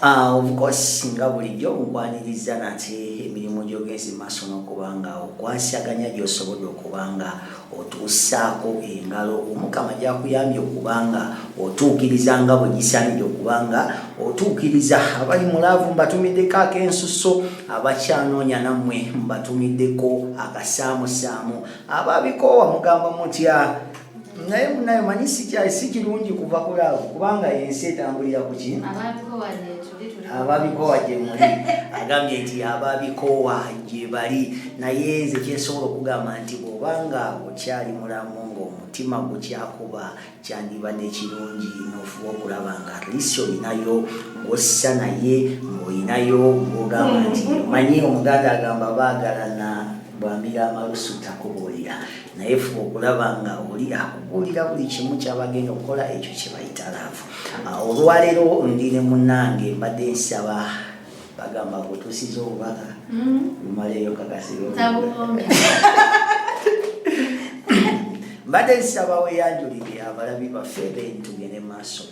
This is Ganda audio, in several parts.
Ah, of course nga bulijjo nkwaniriza nate emirimu gyogenza maaso n'okubanga okwasaganya gyosobodde okubanga otuusaako engalo omukama gyakuyambye okubanga otuukiriza nga bwe gisaanidde okubanga otuukiriza abali mu laavu mbatumiddeko ak'ensusso abakyanoonya nammwe mbatumiddeko akasaamusaamu ababikoowa mugamba mutya naye munaye manyi sikyali si kirungi kuva ku laavu kubanga ensi etambulira ku ki ababikowa gye muli agambye nti ababikowa gye bali naye nze kyensobola okugamba nti bwobanga okyali mulamu ngaomutima gukyakuba kyandiba nekirungi nofuba okulaba nga atlisi olinayo ngossa naye ngaolinayo ngogamba nti manyi omuganda agamba baagalana bwambira amalusu takubuulira naye fuba okulaba nga oli akubuulira buli kimu kyabagenda okukola ekyo kyebayita laavu ah, olwaleero ndi ne munange mbadde nsaba bagamba kutuusiza obubaka mm-hmm. lumaleeyo kakasiro mbadde nsaba weyanjulire abalabi baffe bentugende maaso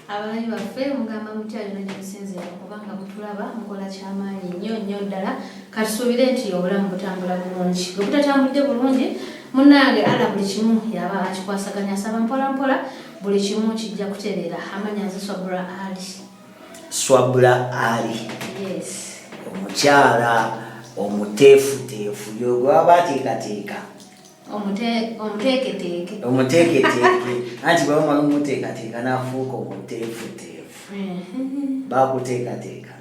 abalabi baffe mugamba mutya lino gyemusinzira okubanga mutulaba mukola kyamaanyi nnyo nnyo ddala katusuubire nti obulamu butambula bulungi bwe butatambudde bulungi munange ala buli kimu yaba akikwasaganya asaba mpola mpola buli kimu kijja kutereera amanya nze swabula ali swabula ali omukyala omuteefuteefu yogwaba ateekateeka omuteeketeeke omuteeketeeke anti bwe bamala omuteekateeka n'afuuka omuteefuteefu bakuteekateeka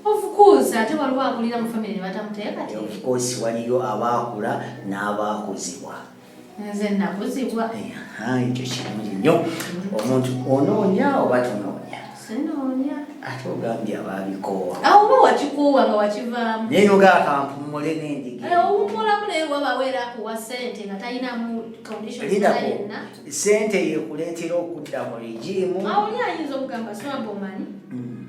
ofukuusa ate waliwo akulira mu famire batamuteekateeka ofukuusi waliyo abaakula n'abaakuzibwa nze nakuzibwa ekyo kirungi nnyo omuntu onoonya oba tonoonya ate ogambye abaabikoowa awo oba wakikoowa nga wakivaamu naye noga akampumule nendigiowummulamu naye wabawo era akuwa sente nga talinamu conditionyenna sente yekuleetera okudda mu regimu awo oli ayinza okugamba swabomanyi mm.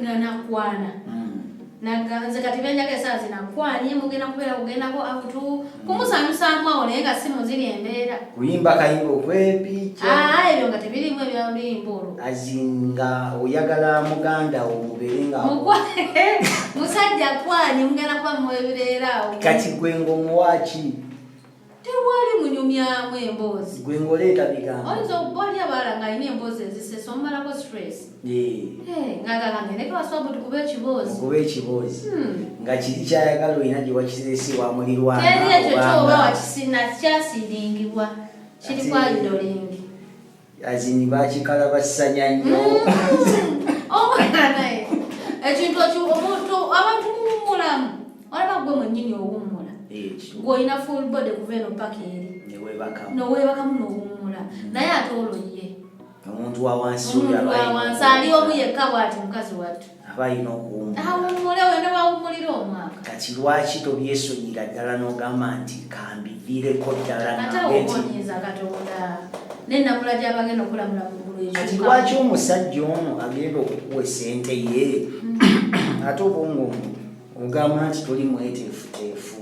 nga nakwana mm. Naga nze kati benjaga esaa zina kwanye mugenda kubeera kugendako akutu kumusanyusaamu awo naye nga si muziri embeera kuyimba kayimba okwepiica ah, ebyo nga tebirimu ebyaluyimba olwo azinga oyagala muganda wo mubeere nga musajja kwanye mugenda kuba muwebireera awo kati gwe ng'omuwaaki tewali munyumyamu emboozi gwe ng'oleeta bigambo oyinza okubaoli abaala ng'alina emboozi ezisesa omumalako stress ngaalangenekewaswabu tukuba ekiboozi okuba ekiboozi hmm. nga kiri kyayagala olina gye wakizesi wa mulirwanaekyo kyoba wakisina kyasiringibwa kiri kwa idolingi azini bakikalabassanya nnyo mm. omwana oh, naye ekintu ekyo omuntu abantu muwummulamu olaba gwe mwennyini owummula gweolina full body kuva eno paka eri noweebakamu nowummula mm. naye ate olwo ye omuntu wawansi ali omu yekka bwati mukazi wattu aba alina okuwummula wena wawummulira omwaka kati lwaki tobyesonyira ddala n'ogamba nti kambiviireko ddala naeonyiza katonda nenakula gyabagenda okulamula muggulu kati lwaki omusajja ono agenda okukuwa esente ye mm. ate obwongo ogamba nti toli mweteefuteefu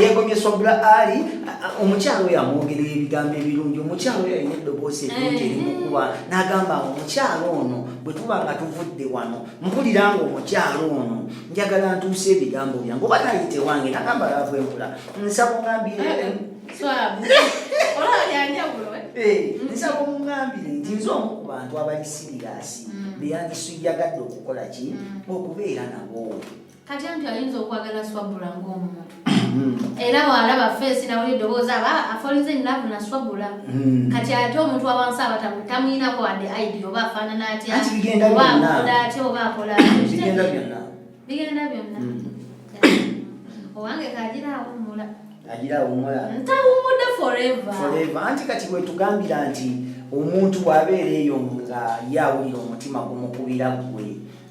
yegomye swabula ali omukyalo oyo amwogerera ebigambo ebirungi omukyalo oyo alina eddoboosi ebirungi erimukuba eh. nagamba omukyalo ono bwe tuba nga tuvudde wano mpulira nga omukyalo ono njagala ntuusa ebigambo byange oba nayite wange nagamba laavu empula nsaba ongambire eh, eh. nsaba omungambire nti nze omu ku bantu abali siriyasi mm. beyandisiyagadde okukola ki mm. okubeera nabo kati anti ayinza okwagala swabula ng'omuntu hmm. era bwalaba feesi nawuli eddoboozi aba afolize nnavu na swabula hmm. kati ate omuntu awansi aba tamuyinako wadde aidi oba afaanana atya oba akola atya oba akola bigenda byonna bigenda byonna hmm. owange kagira awummula agira awummula ntawummudde forever forever anti kati wetugambira nti omuntu bw'abeera eyo nga ye awulira omutima gumukubira ggwe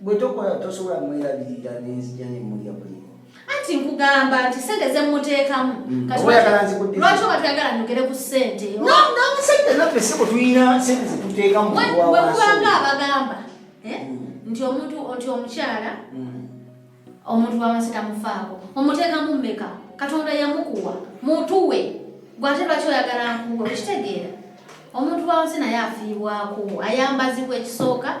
bwe tokola tosobola mwerabirira nenzija ne mulya buli anti nkugamba nti sente zemuteekamu mm. lwaki oba tuyagala nyogere ku sente sente naffe siko tulina sente zetuteekamu wekubanga abagamba eh? mm. nti omuntu nti omukyala mm. omuntu wawansi tamufaako omuteekamu mmeka katonda yamukuwa mutuwe gwate lwaki oyagala nkuwe okitegeera omuntu wawansi naye afiibwako ayambazibwa ekisooka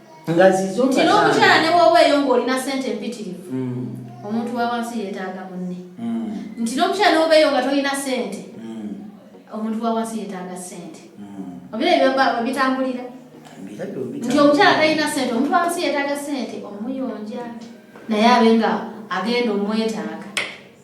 nga zizo nti n'omukyala ne bwoba eyo ng'olina sente empitirivu mm. omuntu wa wansi yeetaaga munne mm. nti n'omukyala ne bwoba eyo nga tolina sente mm. omuntu wa wansi yeetaaga sente obira ebyo bitambulira nti omukyala talina sente omuntu wa wansi yeetaaga sente omuyonja naye abe nga agenda omwetaaga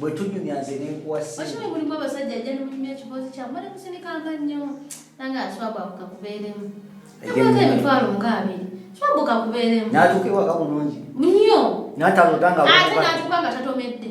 bwe tunyumya nze nenkuwasiokino mulimu abasajja ajja nemunyumya ekiboozi kyamu bali musinikanga nnyo nange aswabu ako kakubeeremu ekwata emitwalo nga abiri swabu kakubeeremu natuuka ewaka bulungi nnyo nataloda nga ate natuuka nga tatomedde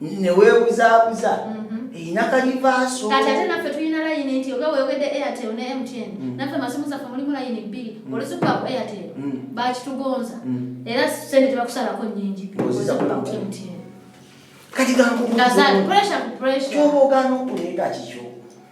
newebuzabuza mhm. erina kalivaaso kati ate naffe tulina layini nti oga wewede airtel ne mtn mm. naffe masimu zaffe mulimu layini bbiri mm. oluzikuba ku airtel mm. bakitugonza era sente tebakusalako nyingi kati gankyoba ogana okuleeta kikyo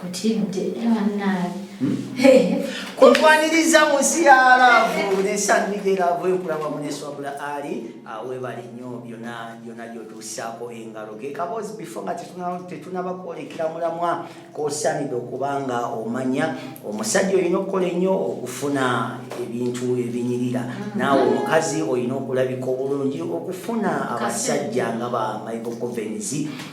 Kutidde banange. Kutwaniriza mu nsi ya laavu n'esannyiga eraavu enkulaba muneswabula ali awebale nnyo byona byona gyotuusaako engalo ge kaboozi bifo nga tetunaba kwolekera mulamwa kosaanidde okuba nga omanya omusajja olina okukola ennyo okufuna ebintu ebinyirira mm-hmm. naawe omukazi olina okulabika obulungi okufuna abasajja nga ba michael covens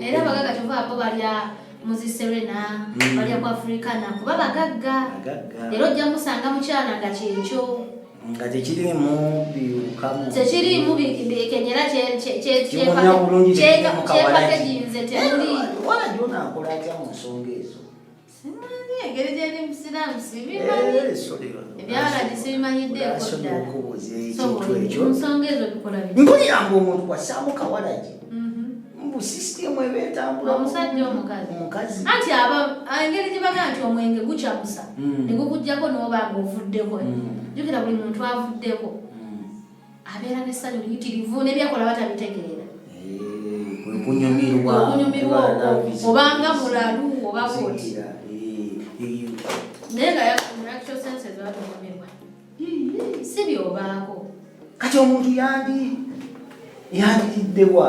era abagagga kyova bo balya muziserena hmm. balya ku afrikana kuba bagagga era ojja musanga mukyala nga kyekyo nga tekirimu biwukamu tekirimu kenyera kyepakeginze temuli wala gyonakola atya mu nsonga ezo mpulira mbu omuntu wasaamu kawalagi mbu sisitemu eba etambulaomukazianti engeri gyebaga nti omwenge gucamusa negukujjako noba nga ovuddeko jukira buli muntu avuddeko abeera n'essanyu liyitirivu nebyakola batabitegeera okunyumirwa okunyumirwa okwo obanga mulalu oba bwoti naye nga actual senses batunyumirwa si byobaako kati omuntu yandi yanditiddewa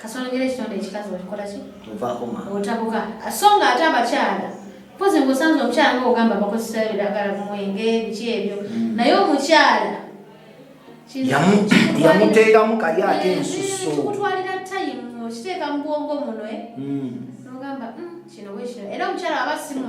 kasonogera ekitonde ekikazi okikola ki otabuka so nga ate abakyala mpozi ngaosanze omukyala nga ogamba bakozesa ebiragala kumwenge biki ebyo mm. naye omukyala yamuteekamu kali ate eh, ensusuokutwalira eh, tayimu okiteeka mu bwongo muno eh? mm. nogamba mm, kino bwekino era omukyala aba simu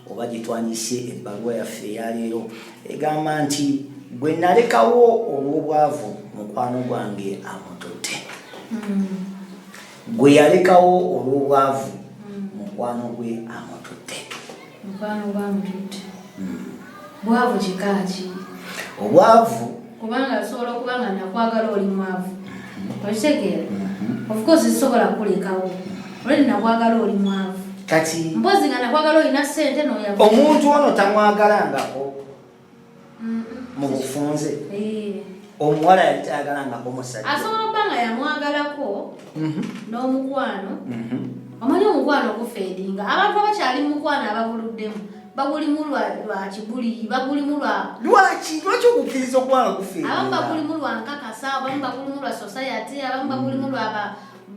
oba gye twandise ebbaluwa yaffe eyaleero egamba nti gwe nalekawo olw'obwavu mukwano gwange amututte gwe yalekawo olw'obwavu mukwano gwe amututte hmm. obwavu kubanga nsobola okuba nga nakwagala oli mwavu mm-hmm. okitegeera mm-hmm. ofcourse zisobola kulekawo olwedi nakwagala oli mwavu kati mpozi nga nakwagala olina sente noya omuntu ono tamwagalangako mu bufunze eh. omuwala yali tayagalangako musajja asobola okuba nga yamwagalako mhm. n'omukwano mhm. omanyi omukwano gufeedinga abantu abakyali mu mukwano ababuluddemu bagulimu lwaki buli bagulimu lwa lwaki lwaki okukkiriza okuba gufe abamu bagulimu lwa nkakasa abamu bagulimu lwa society abamu bagulimu lwa ba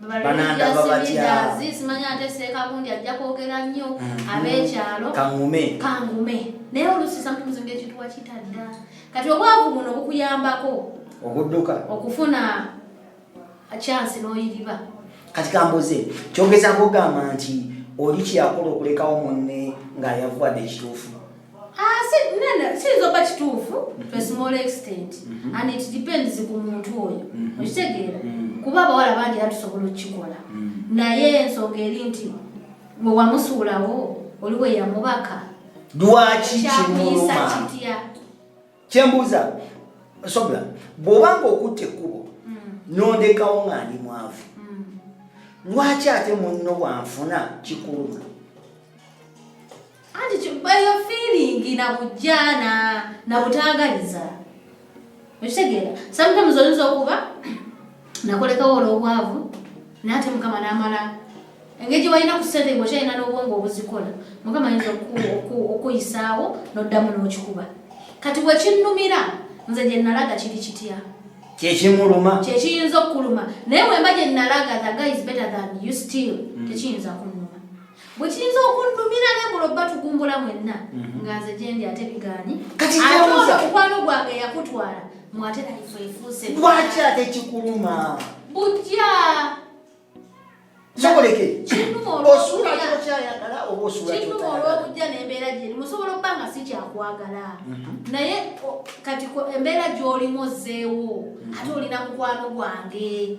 baliyasibidaazi simanya ate seekabundi ajja kwogera nnyo mm-hmm. ab'ekyalo kangume kangume naye oluusi samtumizi ngaekintu wakitadda kati obwavu buno bukuyambako okudduka okufuna akyansi n'oyiriba kati kambuze kyogeza kugamba nti oli kyakola okulekawo munne ng'ayavuwadde ekituufu ah, siyinza oba kituufu mhm. to a small extent mhm. and it depends ku muntu oyo mhm. okitegeera kuba abawala bangi era tusobola okukikola naye ensonga eri nti bwe wamusuulawo oli weyamubaka lwaki kimuluma kyembuuza sobla bw'obanga okutta ekkubo mm. nondekawo nga ndi mwavu mm. lwaki ate munno bwanfuna kikuluma anti eyo fiiringi na bujjaana na butaagaliza okitegeera sometimes oyinza okuba nakolekawo olw'obwavu naate mukama n'amala engeri gye walina ku ssente ngaokyalina n'obwongo obuzikola mukama ayinza okuyisaawo n'oddamu n'okikuba kati bwe kinnumira nze gye nalaga kiri kitya kyekimuluma kyekiyinza okukuluma naye wemba gye nalaga the guy is better than you still mm. tekiyinza kunuma bwe kiyinza okunnumira ne mulo batugumbula mwenna mhm. nga nze gyendi ate bigaanyi ate oyo mukwano gwange yakutwala mwate naife efuuse lwaki ate kikuluma bujja soboleke osuula kyokyayagala oba osuulakinuma olwobujja nembeera gyeri musobola okuba nga si kyakwagala mhm. naye kati embeera gyolimu ozzeewo mhm. ate olina mukwano gwange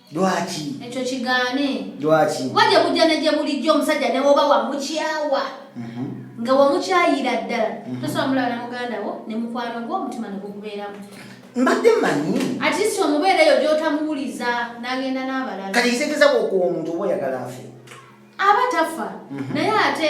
lwaki ekyo kigaane lwaki kuba gye bujja ne gye bulijjo omusajja ne woba wamukyawa mhm. nga wamukyayira ddala mhm. tosobola mulaba na muganda wo ne mukwano gwo omutima ne gukubeeramu mbadde manyi atisi omubeera eyo gyotamuwuliza n'agenda n'abalala kati kitegeza bwokuwa omuntu oba oyagala afe aba tafa mhm. naye ate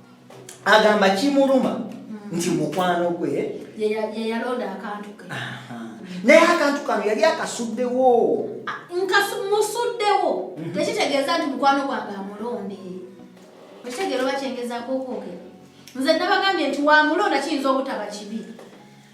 agamba kimuluma nti mukwano gwe yeyalonda akantu ke naye akantu kano yali akasuddewo musuddewo mhm. tekitegeeza nti mukwano gwange amulonde ekitegeero bakyengezako okwogera nze nabagambye nti wamulonda kiyinza obutaba kibi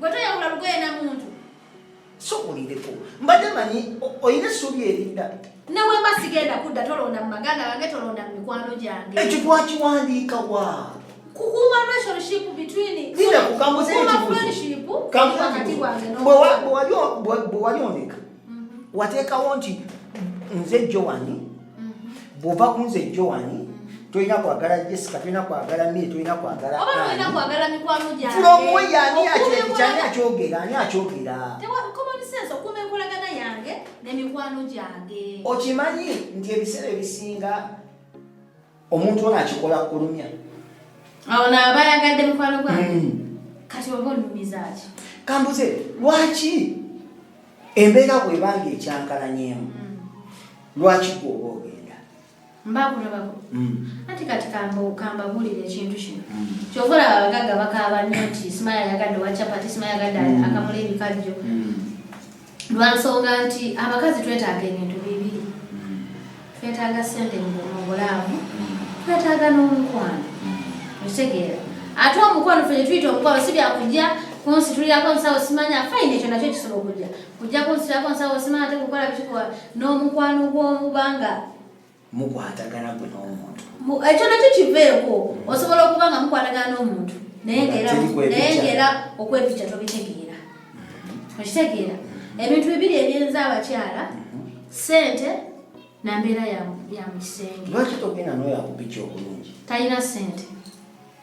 Gwe toyawula lugoye na muntu. Sokulireko. Mbadde manyi oyina essuubi erinda. Ne bwe mba sigenda kudda tolonda mu maganda gange tolonda mu mikwano gyange. Ekyo twakiwandiika wa? Kukuuma relationship between. Linda kukambuza ekibuzo. Kukuuma friendship. Kambuza ekibuzo. Bwe wali ondeka. wateekawo nti nze jowani bwova kunze jowani tolina kwagala jessica tolina kwagala mi tolina kwagalaani akyogera ani akyogera okimanyi nti ebiseera ebisinga omuntu ono akikola kulumya awo naaba ayagadde mukwano gwange hmm. kati oba olumizaaki kambuze lwaki embeera bwebanga ekyankalanyemu hmm. lwaki gwoba ogenda mbakulabako hmm. anti kati kambabulira ekintu kino kyova olaba abagagga bakaaba nnyo nti simaya ayagadde owa chapati simaya ayagadde akamula ebikajjo lwa nsonga nti abakazi twetaaga ebintu bibiri twetaaga sente mu bulaamu twetaaga n'omukwano okitegeera ate omukwano fe netuyita omukwano si byakujja kunsitulirako nsawo simanya fayina ekyo nakyo kisobola okujja kujja kunsitulirako nsawo simanya tekukola bikikola n'omukwano gw'omubanga mukwatagana gwe n'omuntu ekyo nakyo kiveeko osobola okuba nga mukwatagana n'omuntu naye ngaera okwepikya tobitegeera mm-hmm. okitegeera ebintu bibiri ebyenza abakyala mm-hmm. sente na mbeera ya mu kisenge lwaki togenda noyo akupikya obulungi talina sente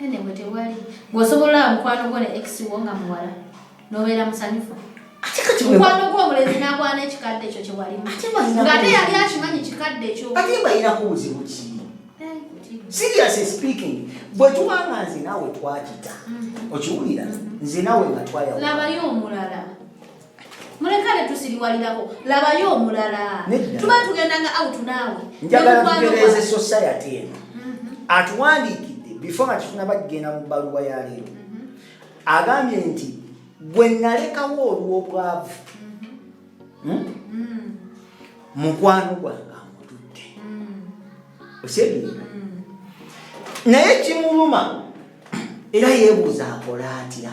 Anyway tewali. Gwosobola mukwano gwo ne ex wo nga muwala. Nobeera musanyufu. Mukwano gwo omulenzi n'agwana ekikadde ekyo kye walimu. Nga ate yali akimanyi kikadde ekyo. Ate mbayinako buzibu ki? seriously speaking bwe tuba nga nze naawe twakita mm. okiwulira mm. nze naawe nga twayawulabayo omulala mulekale tusiriwalirako labayo omulala tuba tugenda nga out naawe njagala tugereze society eno mhm. atuwandiikidde before nga tufuna bagenda mu bbaluwa ya leero mhm. agambye nti gwe nalekawo olw'obwavu mhm. hmm? mm. mukwano gwange amutudde mm. osebiina mm. naye kimuluma era yebuuza akola atya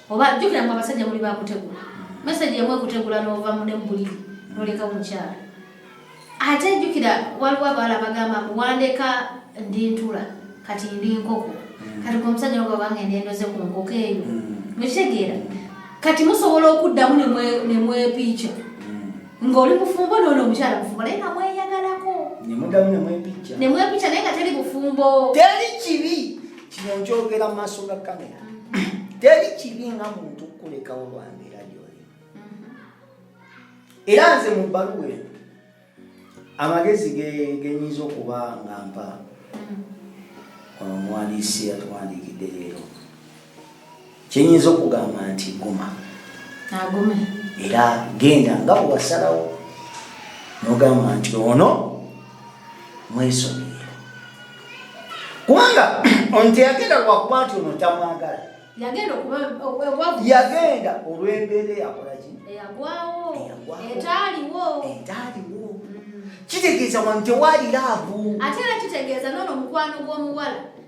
oba jjukira mwe abasajja muli bakutegula meseji emu ekutegula n'ova mu nebuliri noleka omukyala ate jjukira waliwo abawala abagamba mbu wandeka ndi ntula kati ndi nkoko mm. kati gwomusajja nogabanga endendoze ku nkoko eyo mm. mukitegeera kati musobola okuddamu nemwepiica mm. ng'oli mufumbo noono omukyala mufumbo naye nga mweyagalako nemwepiica naye nga teri bufumbo teri kibi kino njogera mu maaso ga kamera mm-hmm. teri kibi nga muntu kukulekawo lwambeera gyoli mm-hmm. era nze mu bbaluwa eno amagezi genyinza okuba nga mpa mm-hmm. omuwandiisi yatuwandiikidde leero kyenyinza okugamba nti guma agume era genda nga bwewasalawo nogamba nti ono mwesomere kubanga ono teyagenda lwakuba nti ono tamwagala yagenda olwembeera eyakolaki etaliwo mm. kitegeeza wano tewali laavu ate era kitegeeza nono mukwano gw'omuwala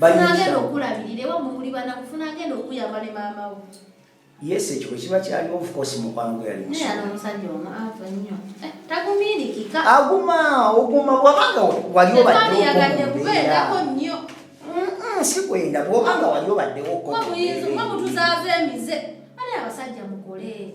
funagenda okulabirira ewa mumuli banaku funagenda okuyamba ne maama wo yes ekyo bwekiba kyaliwo ofcourse mukwano gwe yali omusajja omu ava nnyo eh, tagumiirikika aguma oguma bwabanga wali obaddeyagadde kubeerako nnyo sikwenda bwobanga wali obaddewo mutuzaava emize ali abasajja mukole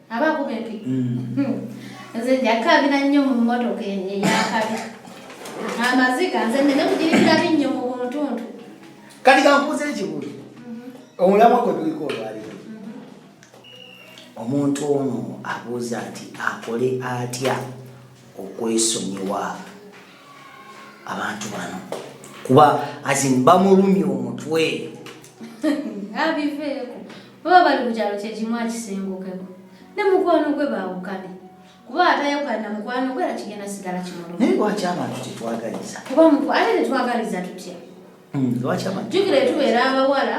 aba akuba empi mm. nze njakabira nnyo mu mmotoka eyakabi amaziga nze nene kugirikira binnyo mu buntuntu kati kankuuza ekibuuzo mm-hmm. omulamwa gwe tuliko olwaliro mm-hmm. omuntu ono abuuza nti akole atya okwesonyiwa abantu bano kuba azin bamulumya omutwe abiveeko baba bali ku kyalo kyekimu akisengukeko ne mukwano gwe baawukane kuba atayawukana na mukwano gwe era kigenda sigala kimuluma naye lwaki abantu tetwagaliza kuba ate tetwagaliza tutya hmm, lwaki abantu jukira etubeera abawala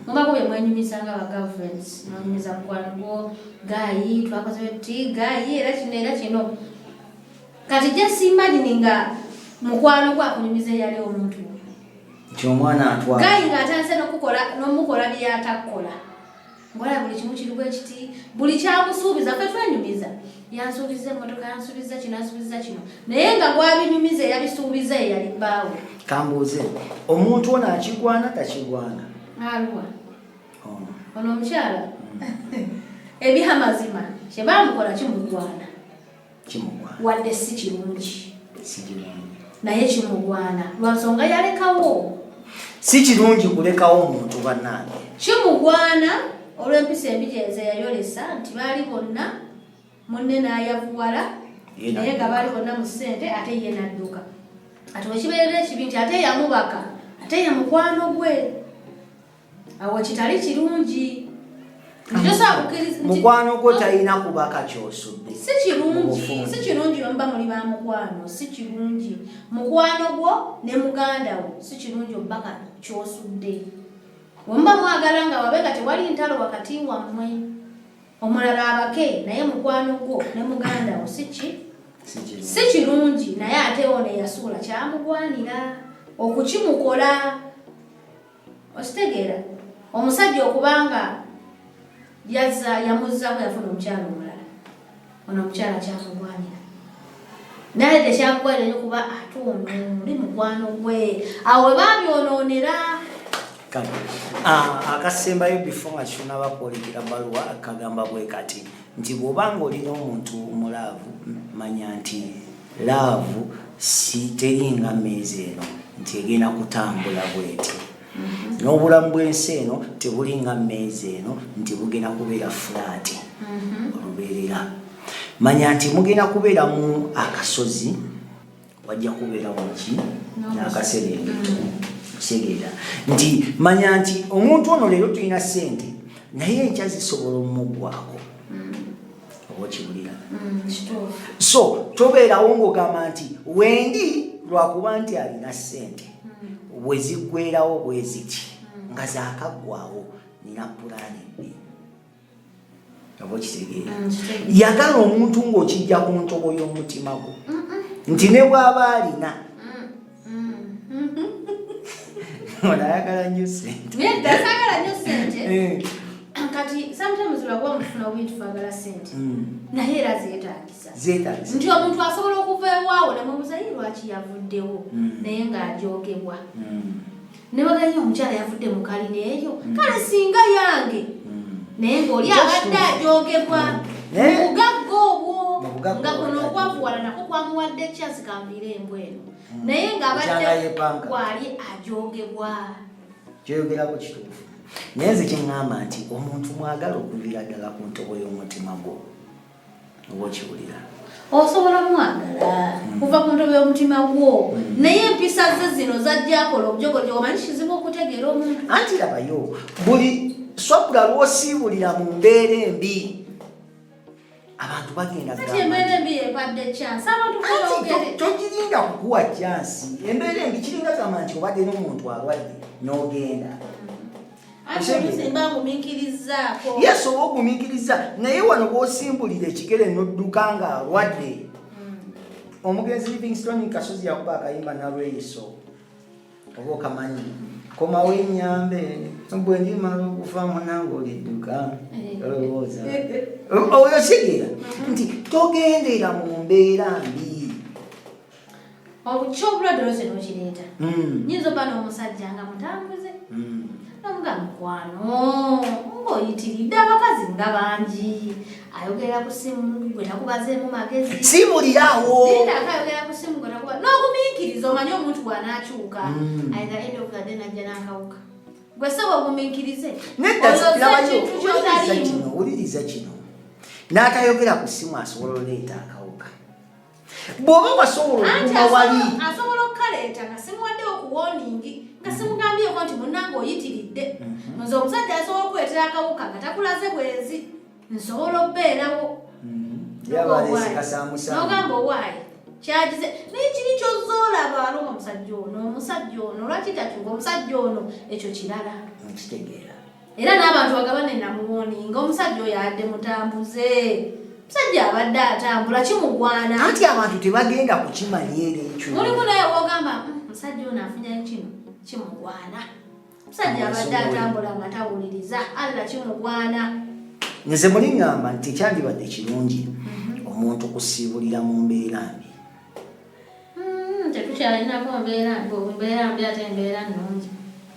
mubako bye mwenyumiza nga bagavumenti mwenyumiza mukwano gwo gaayi twakoze ti gaayi era kino era kino kati just imagine nga mukwano gwakunyumiza eyali omuntu nti omwana atwala gayi nga atandise nokukola nomukola byatakkola ngola buli kimu kiriwo ekiti buli kyakusuubiza fe twenyumiza yansuubiza emotoka yansuubiza kino yansuubiza kino naye nga gwabinyumiza eyabisuubiza eyali bbaawe kambuuze omuntu ono akigwana takigwana aluwa oh. ono omukyala mm. ebya mazima kyebamukola kimugwana wadde si kirungi naye kimugwana lwansonga yalekawo si kirungi kulekawo omuntu banange kimugwana olw'empisa embi gyenze yayolesa nti baali bonna munne n'ayavuwala naye nga baali bonna mu ssente ate ye nadduka ati wekibeerera ekibi nti ate yamubaka ate ye mukwano gwe awo kitali kirungi mukwano gwo talina kuba kakyosudde si kirungi si kirungi omuba muli ba mukwano si kirungi mukwano gwo ne muganda wo si kirungi omuba ka kyosudde omuba mwagala nga wabe nga tewali ntalo wakati wammwe omulala abake naye mukwano gwo ne muganda wo si ki si kirungi naye ate ono eyasuula kyamugwanira okukimukola okitegeera omusajja okubanga yazza yamuzzaako yafuna omukyalo omulala ono omukyala kyamugwanira naye tekyakukolera nyo kuba ate ono oli mukwano gwe awo we babyonoonera ah, akasembayo before nga kitunaba kwolekera baluwa kagamba bwe kati nti bw'oba nga olina omuntu omulaavu manya nti Laavu si teri nga mmeeza eno nti egenda kutambula bweti mhm. n'obulamu bw'ensi eno tebuli nga mmeeza eno nti bugenda kubeera fulaati mhm. olubeerera manya nti mugenda kubeeramu akasozi wajja kubeeramu ki n'akaserengeto mhm. kisegeera nti manya nti omuntu ono leero tulina ssente naye enkya zisobola omumuggwako Mm, so tobeerawo ngaogamba nti wendi lwakuba nti alina sente mm. weziggwerawo bweziki mm. nga zakaggwawo nina pulaani bbi oba okitegeera yagala omuntu ng'okijja ku ntobo y'omutima gwo nti ne bwaba alina onayagala nyo senteasagala nyo sente eh. kati sometimes olaba omufuna obintu fagala sente hmm. naye era zetagisa nti omuntu asobola okuva ewaawo nemubuzayi lwaki yavuddewo hmm. naye ng'ajogebwa hmm. Newagayo omukyala yavudde mu kalina eyo mm. kale singa yange mm. naye ng'oli abadde ajoogebwa mm. eh? mubugagga obwo nga kuno okwavuwala nako kwamuwadde chance kambiire embw eno naye ng'abadde waali ajoogebwa kyoyogerako kituufu naye nze kyeŋŋamba nti omuntu mwagala okuviira ddala ku ntobo y'omutima gwo oba okiwulira osobola mwagala hmm. kuva ku ntobe y'omutima gwo hmm. naye empisa ze zino zajjakola obujogojogo manyi kizibu okutegeera omuntu anti labayo buli swabula lwosiibulira mu mbeera embi abantu bagenda togirinda kukuwa jansi embeera embi kiringa gamba nti obadde n'omuntu alwadde n'ogenda yesu oba ogumiikiriza naye wano bwosimbulira ekigere nodduka nga alwadde hmm. omugenzi livingston kasozi yakuba akayimba nalweyiso oba okamanyi komawo enyambe bwendimala okufa munange olidduka eh. olowooza oyo sigera nti togendera mu mbeera mbi obukyobulwadde lwose nokireeta hmm. nyinza oba n'omusajja nga mutambuze hmm. nomuga mukwano ngaoyitiridde abakazi nga bangi ayogera ku simu gwe takubazeemu magezi simulirawo ayogera ku simu gwe takuba n'ogumiikiriza omanye omuntu bwanakyuka hmm. ayinza enda okugade najja n'akawuka gwe sebo ogumiikirize neddaokyotaliimu owuliriza kino n'atayogera ku simu asobola oleeta akawuka bwoba wasobola okuma wali asobola okukaleeta nga simuwadde okuwoningi nga simugambyeko nti munange oyitiridde mhm. nze omusajja asobola okukuleetera akawuka nga takulaze bwenzi nsobola okubeerawo nogamba owaayi kyagize naye kiri kyozoolaba aluma omusajja ono omusajja ono lwaki takyuka omusajja ono ekyo kirala nkitegeera era n'abantu bagabane namuwoni nga omusajja oyo adde mutambuze musajja abadde atambula kimugwana anti abantu tebagenda kukimanya era ekyo mulimu naye wogamba hmm, musajja ono afunya kino kimugwana musajja abadde atambula nga tawuliriza alla kimugwana nze muli ŋŋamba nti kyandibadde kirungi mhm. omuntu kusiibulira mu mbeera mbi Hmm, tetukyalinako mbeera mbeera mbi ate embeera nnungi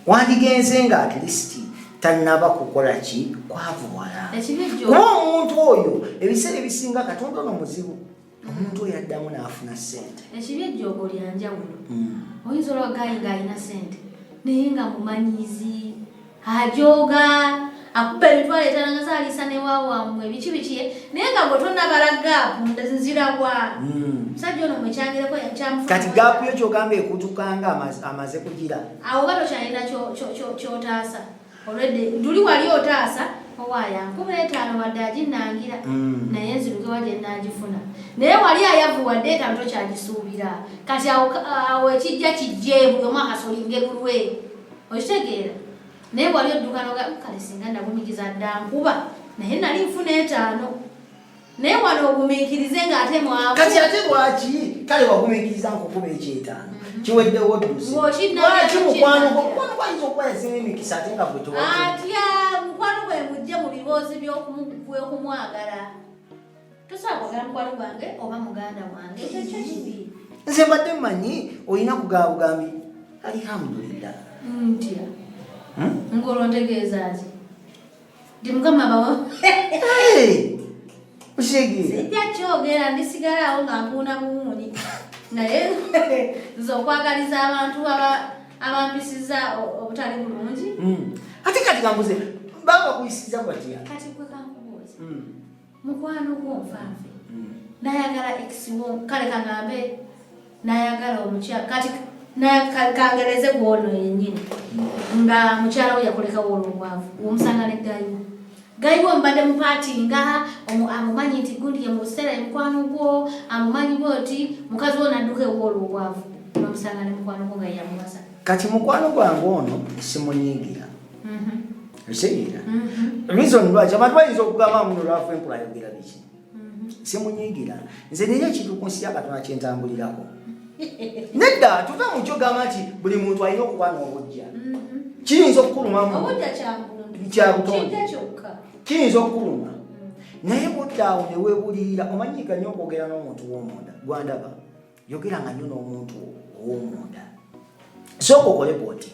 wandigenze nga at least tanaba kukola ki kwavuwala kuba omuntu oyo ebiseera ebisinga katonda ono muzibu omuntu oyo addamu n'afuna sente ekibi ejjoogo lyanjawulo hmm. oyinza olwagayi ng'alina sente naye nga mumanyizi ajooga akuba emitwalo etaano nga zaliisa ne wawaamwe biki biki naye nga gwe tonabala gaapu nzira wa hmm. musajja ono mwekyangireko kati gaapu yo kyogamba ekutuka nga amaze kugira awo oba tokyalina kyotaasa olwedde nduli wali otaasa owaaya nkubula etaano wadde aginangira hmm. naye nzirukewa gye nagifuna naye wali ayavuwadde etaano tokyagisuubira kati awo ekijja kijjeebuli omwakasolingerulwe okitegeera naye wali oddukanoga mm, kale singa nagumikiza dda nkuba naye nali nfuna etaano naye wano ogumiikirize ng'ate mwakati ate lwaki kale wagumiikiriza nkukuba ekyetaano mhm. kiweddewo ddusilwaki mukwano mukwano gwayinza okuba yasinga emikisa ate nga bwetwa atya mukwano gwe mujje mu biboozi by'okumwagala nze mbadde manyi olina kugaba bugambi alihamdulillah ntya hmm? ngolontegeeza ki ndi mukama bawo sijja kyogera ndisigalawo nga mpuuna buwuuni naye nze okwagaliza abantu abampisiza obutali bulungi hmm. ate kati kambuze baba kuyisiza kwatya kati kwekankubuuza hmm. mukwano gwo nfanfe hmm. nayagala ekisiwo kale kangambe nayagala omukyala kati kangereze gwono yenyini hmm. nga mukyala we yakolekawo olwobwavu womusanga ne gayiwo gayiwo mbadde mupaati nga amumanyi nti gundi ye mu buseera emukwano gwo amumanyi bwe oti mukazi wo nadduka ewo olwobwavu nomusanga ne mukwano gwo nga yamuwasa kati mukwano gwange ono simunyiigira okitegera mm-hmm. reason lwaki abantu bayinza okugamba muno lwafu enkula ayogera biki mm-hmm. simunyigira nze nina ekintu ku nsi yakatonda kyentambulirako nedda tuve mukyo gamba nti buli muntu alina okuba n'obujja mm-hmm. kiyinza okukulumamu kyabutonde kiyinza okukuluma naye buddaawo newebulirira omanyika nyo okwogera n'omuntu w'omunda gwandaba yogeranga nnyo n'omuntu ow'omunda sooka okole bwoti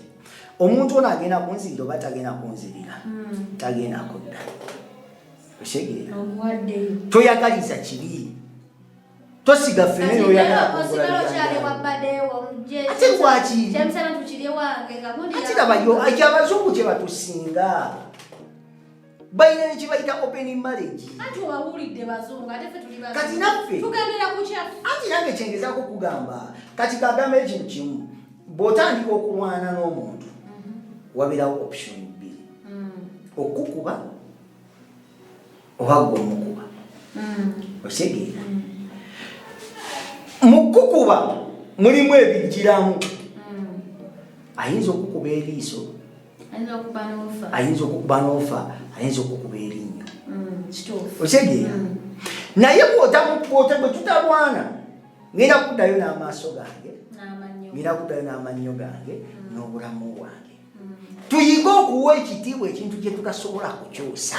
omuntu ono agenda kunzirira oba tagenda kunzirira hmm. tagenda kudda osegeera toyagaliza kibi tosiga fene noyagala ate lwaki ate labayo ekyabazungu kyebatusinga balina nekibayita open marriage kati naffe anti nange kyengezako okugamba kati kagamba ekintu kimu bwotandika okulwana n'omuntu mhm. wabirawo option bbiri mm. okukuba oba gwe omukuba mm. osegeera mm. mu kukuba mulimu ebijjiramu ayinza okukuba eriiso ayinza okukuba n'ofa ayinza okukuba erinnyo mm, otegee mm. naye bwotamukwota bwe tutalwana ngenda kuddayo n'amaaso gange ngenda kuddayo n'amannyo gange mm. n'obulamu bwange tuyige okuwa ekitiibwa ekintu kye tutasobola kukyusa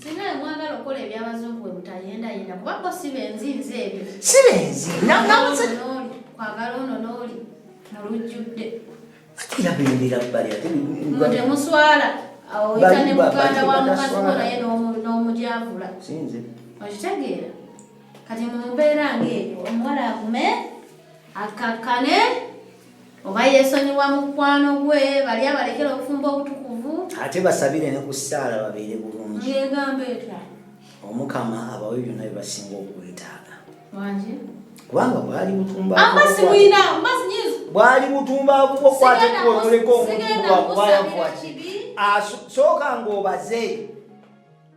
Singa bwe mwagala okukola eby'abazungu bwe mutayendayenda kuba bo si benzi nze ebyo. Si benzi. Kwagala ono n'oli mu lujjudde. Ate era bendera bbali ate temuswala awo oyita ne muganda wa mukazi wo naye n'omugyavula. Si nze. Okitegeera? Kati mu mbeera ng'eyo omuwala agume akakkane. Oba yesonyiwa mukwano gwe bali abalekera obufumbo obutukuvu. Ate basabire ne ku ssaala babeere bulungi. Ng'egamba etya? Omukama abawe byonna bye basinga okwetaaga. Wangi. Kubanga bwali butumba. Amasi buyina, amasi nyizi. Bwali butumba abuko kwate ku omuleko omuntu kuba kuba yavuwa kibi. Asooka ng'obaze.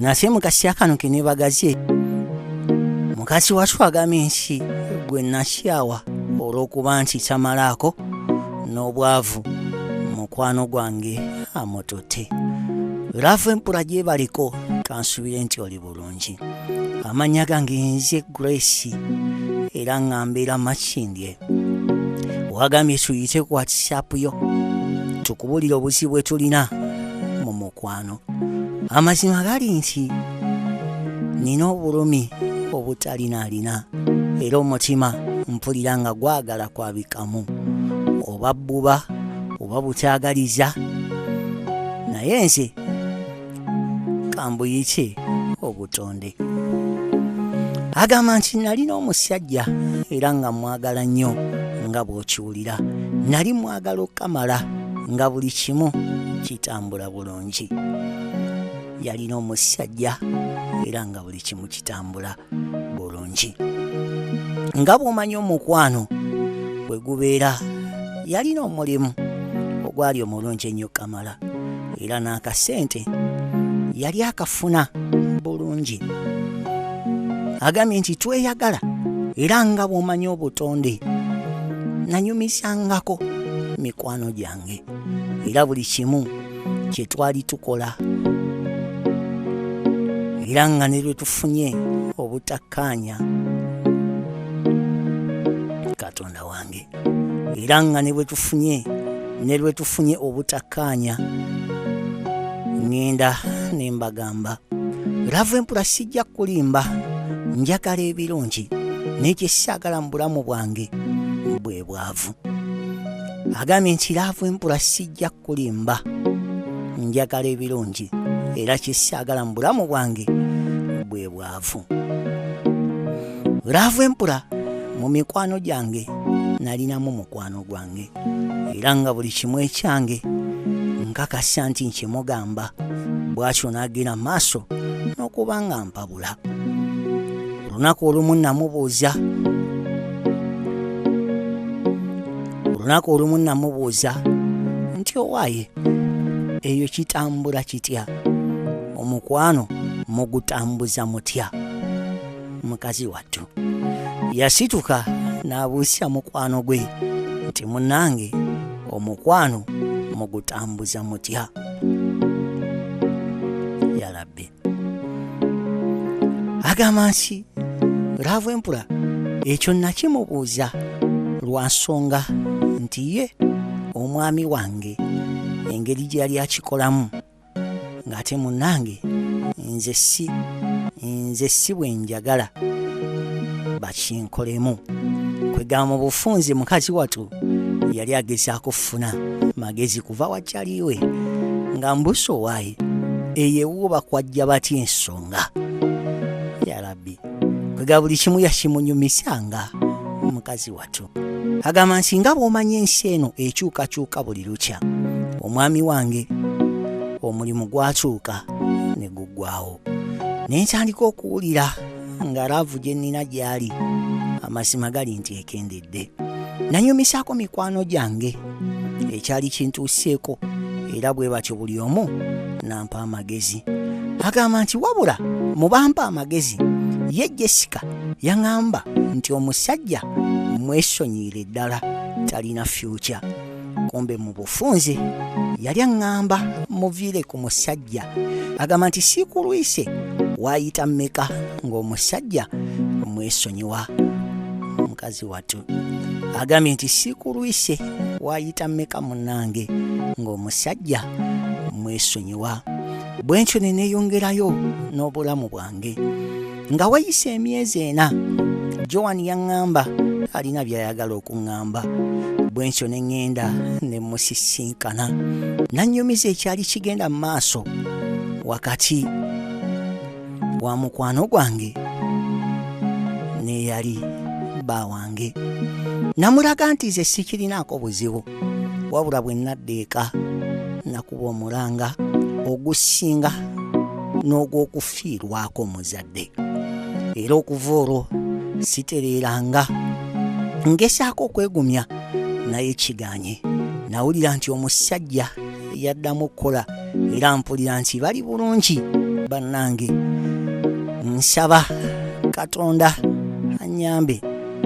nase mukasi akano kenebagaze mukasi wasu agambye nsi gwe nasyawa olw'okuba nti samalaako n'obwavu mukwano gwange amututte laavu empura gyebaliko kansubire nti oli bulungi amanya gange nze grace era nga mbeera makindye wagambye tuyite ku whatsapp yo tukubulire obuzibu bwe tulina mu mukwano amazima gali nti nina obulumi obutalinaarina era omutima mpulira nga gwagala kwabikamu oba bbuba oba butaagaliza naye nze kambuyiki obutonde agamba nti nalina omusajja era nga mwagala nnyo nga bw'okiwulira nali mwagala okukamala nga buli kimu kitambula bulungi yalina omusajja era nga buli buli kimu kitambula bulungi nga bw'omanyi omukwano bwe gubeera yalina omulimu ogwali omulungi ennyo kamala era n'akasente yali akafuna bulungi agambye nti tweyagala era nga bw'omanyi obutonde nanyumisangako mikwano gyange bwange era buli kimu kye twali tukola era nga ne lwe tufunye obutakkaanya katonda wange era nga ne bwe tufunye ne lwe tufunye obutakkaanya ŋŋenda ne mbagamba lava empula sijja kulimba njagala ebirungi n'ekyesaagala mu bulamu bwange bwavu agambye nti laavu empula sijja kulimba njagala ebirungi era kyesiagala mu bulamu bwange bwe bwavu laavu empula mu mikwano gyange nalinamu mukwano gwange era nga buli kimu ekyange nkakasa nti nkimugamba bwatyo n'agenda maaso n'okuba nga mpabwa kwegumbula olunaku olumu namubuuza olunaku olumu namubuuza nti owaaye eyo kitambula kitya omukwano mugutambuza mutya mukazi wattu yasituka n'abuusya mukwano gwe nti munange omukwano mugutambuza mutya agamba nti laavu empula ekyo nakimubuuza lwa nsonga nti ye omwami wange engeri gye yali akikolamu ng'ate munnange nze si nze si bwe njagala bakinkolemu kwegamba mu bufunze mukazi watu yali agezaako kufuna magezi kuva wakyaliwe nga mbusa owaaye eyo ewuwo bakwajja batya ensonga yarabi kwega buli kimu yakimunyumisanga mukazi watu agamba nti nga bw'omanya ensi eno ekyukakyuka buli lukya omwami wange omulimu gwakyuka ne guggwawo ne ntandika okuwulira nga laavu gye nnina gy'ali amazima gali nti ekendedde Dde. Nanyumisaako mikwano gyange ekyali kintuuseeko era bwe batyo buli omu nampa amagezi. Agamba nti wabula mu bampa amagezi ye Jessica yaŋamba nti omusajja mwesonyiire ddala talina fyukya. kumbe mu bufunze yali aŋŋamba muviire ku musajja agamba nti siikulwise waayita mmeka ng'omusajja mwesonyiwa mukazi watu agambye nti siikulwise waayita mmeka munnange ng'omusajja mwesonyiwa bwe ntyo ne neeyongerayo n'obulamu bwange nga wayise emyezi ena joan yaŋŋamba alina by'ayagala okuŋŋamba bwe nsyo ne ŋŋenda ne musisinkana nannyumiza ekyali kigenda mu maaso wakati wa mukwano gwange n'eyali bba wange namulaga nti ze sikirinaako buzibu wabula bwe nadda eka nakuba omulanga ogusinga n'ogw'okufiirwako omuzadde era okuva olwo sitereeranga ngesaako okwegumya naye kiganye nawulira nti omusajja yaddamu okukola era mpulira nti bali bulungi bannange nsaba katonda anyambe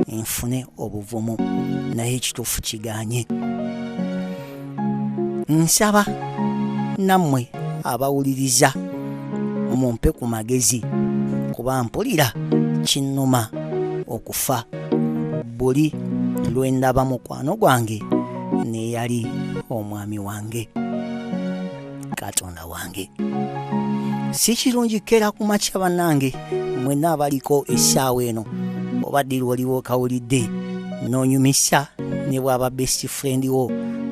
nfune obuvumu naye ekituufu kiganye nsaba nammwe abawuliriza mumpe ku magezi kuba mpulira kinnuma okufa buli lwe ndaba mukwano gwange n'eyali omwami wange katonda muganda wange si kirungi kera ku makya bannange mwena abaliko essaawa eno oba diri waliwo okawulidde n'onyumisa ne bwaba best friend wo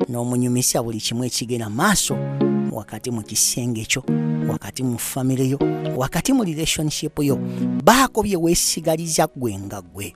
n'omunyumisa buli kimu ekigenda maaso wakati mu kisenge kyo wakati mu famire yo wakati mu relationship yo baako bye weesigaliza gwe nga gwe